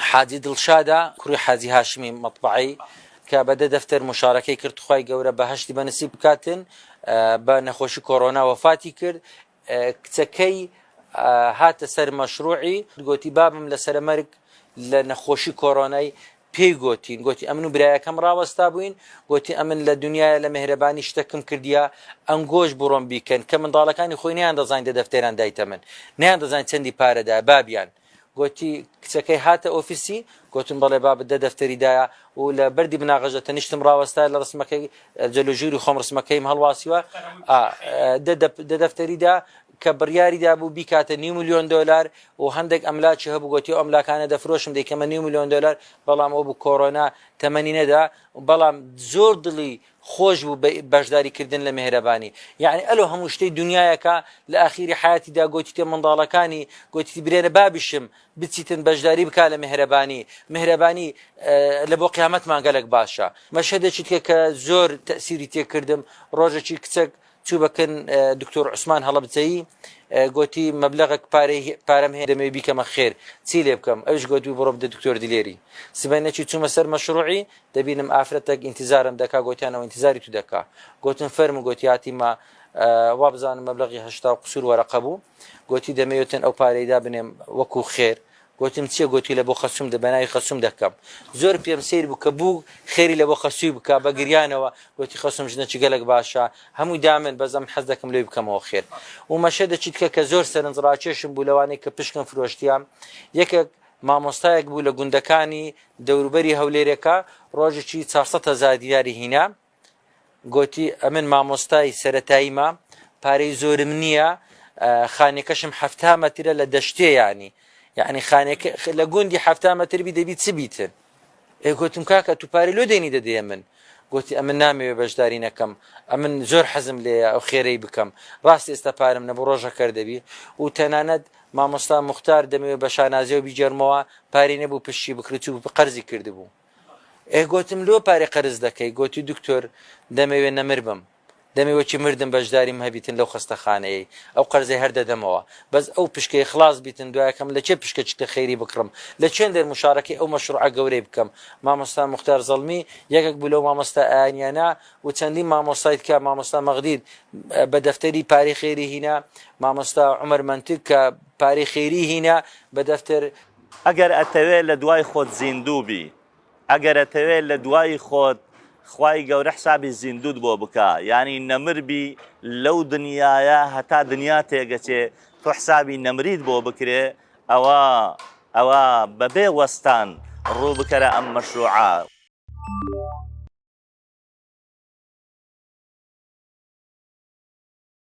حاجی دڵشادە کوڕی حاجی هاشمی مەطبعی کە بە دە دەفتەر مشارەکەی کرد خوای گەورە بەهشتی بەنسیب بکاتن بە نەخۆشی کۆرۆنا وەفاتی کرد کچەکەی هاتە سەر مەشروعی گوتی بابم لە سەرمەرگ لە نەخۆشی کۆرۆنای پێی گوتین گوتی ئەمن و برایەکەم ڕاوەستا بووین گوتی ئەمن لە دنیاە لە مهرەبانی شتەکم کردیا ئەنگۆش بڕۆم بیکەن کە منداڵەکانی خۆینیان دەزانین دە دەفتێران دایتە من نیان دەزانین چەندی پارەدا بابیان گۆتی، کچەکەی هاتە ئۆفیسی؟ گۆتم، بەڵێ بابت دە دەفتەری دایە و لە بەردی بناغەژە تەنیشتم ڕاوەستایە لە ڕسمەکەی جل و جوری خۆم ڕسمەکەیم هەڵواسیوە ئا دە دە دە دەفتەری دا کە بڕیاری دابوو بیکاتە نیو ملیۆن دۆلار و هەندێک ئەملاکی هەبوو گۆتی ئەو ئەملاکانە دەفرۆشم دەیکەمە نیو ملیۆن دۆلار بەڵام ئەو بوو کۆرۆنا تەمەنی نەدا بەڵام زۆر دڵی خۆش بوو بە بەشداری کردن لە مێهرەبانی یەعنی ئەلۆ هەموو شتەی دونیایەکە لە ئاخیری حەیاتی دا گۆتیتە منداڵەکانی گۆتیتی برێنە بابیشم بچیتن بەشداری بکا لە مێهرەبانی مێهرەبانی لە بۆ قیامەتمان گەلەک باشە مەشهەدێکی تکە کە زۆر تەئسیری تێ کردم ڕۆژەکی کچەک چوو بە کن دکتۆر عوسمان هەڵەبجەیی گوتی مەبلغک پارەی پارەم هەیە دەمەوێت بیکەمە خێر چی لێ بکەم ئەوش گوتوی بڕۆ بدە دکتۆر دلێری سبەی نەچوو چوومە سەر مەشروعی دەبینم ئافرەتێک ئینتیزارم دەکا گوتیانەوە ئینتیزاری تو دەکا گوتم فەرمو گوتیاتی ما وابزانم مەبلغی هەشتا و قسور وەرەقە بوو گۆتی، دەمەوێتن ئەو پارەی دابنێم وەکوو خێر. گۆتم، چییە؟ گۆتی، لە بۆ خەسووم دە بە ناوی خەسووم دەکەم. زۆر پێم سەیر بوو کە بوو خێری لە بۆ خەسووی بکا، بە گریانەوە گۆتی، خەسووم ژنەکی گەلەک باشە، هەمووی دامن، بەس ئەمن حەز دەکەم لۆی بکەمەوە خێر. و مەشە دە چیتکە کە زۆر سەرنج ڕاکێشم بوو لەوانەی کە پشکم فرۆشتیان. یەکێک مامۆستایەک بوو لە گوندەکانی دەوروبەری هەولێرێکە، ڕۆژێکی چوار سەد هەزار دیناری هینا. گۆتی، ئەمن مامۆستای سەرەتاییمە، پارەی زۆرم نییە، خانیەکەشم حەفتا مەترە لە دەشتێ یانی، یانی خانیەکە لە گوندی حەفتا مەتر بی دەبی چ بیتن؟ ئێ گۆتم، کاکە تو پارەی لۆ دێنی دەدەی ئەمن؟ گۆتی، ئەمن نامەوێ بەشداری نەکەم، ئەمن زۆر حەزم لێیە ئەو خێرەی بکەم، ڕاست ئێستا پارەم نەبو ڕۆژە کەر دەبی و تەنانەت مامۆستا موختار دەمەوێ بە شانازیەوە بیگێڕمەوە، پارەی نەبو پشتی بکرد چوبو قەرزی کردبو. ئه گۆتم لۆ پارە قەرز دەکەی گۆتی دکتۆر دەمەوێ نەمر بم دەمێ وەکی مردم بەژداریم هەبیتن لەو خەستەخانەیەی ئەو قەرزەی هەر دەدەمەوە بەس ئەو پشکەی خڵاس بیتن دوایەکەم لە کێ پشکە چکە خەیری بکڕم لە چێندەر مشارەکەی ئەو مەشڕوعە گەورەی بکەم مامۆستا موختار زەڵمی یەکەک بوو لەو مامۆستا ئایەنیانە و چەندین مامۆستای تکە مامۆستا مەغدید بە دەفتەری پارەی خەیری هینا مامۆستا عومەر مەنتک کە پارەی خەیری هینا بە دەفتەر ئەگەر ئەتەوێ لە دوای خۆت زیندوو بی ئەگەر ئەتەوێ لە دوای خۆت خوای گەورە حسابی زیندووت بۆ بکا یانی نەمر بی لەو دنیایە هەتا دنیا تێگەچێ تۆ حسابی نەمریت بۆ بکرێ ئەوا ئەوا بەبێ وەستان ڕوو بکەرە ئەم مەشروعە.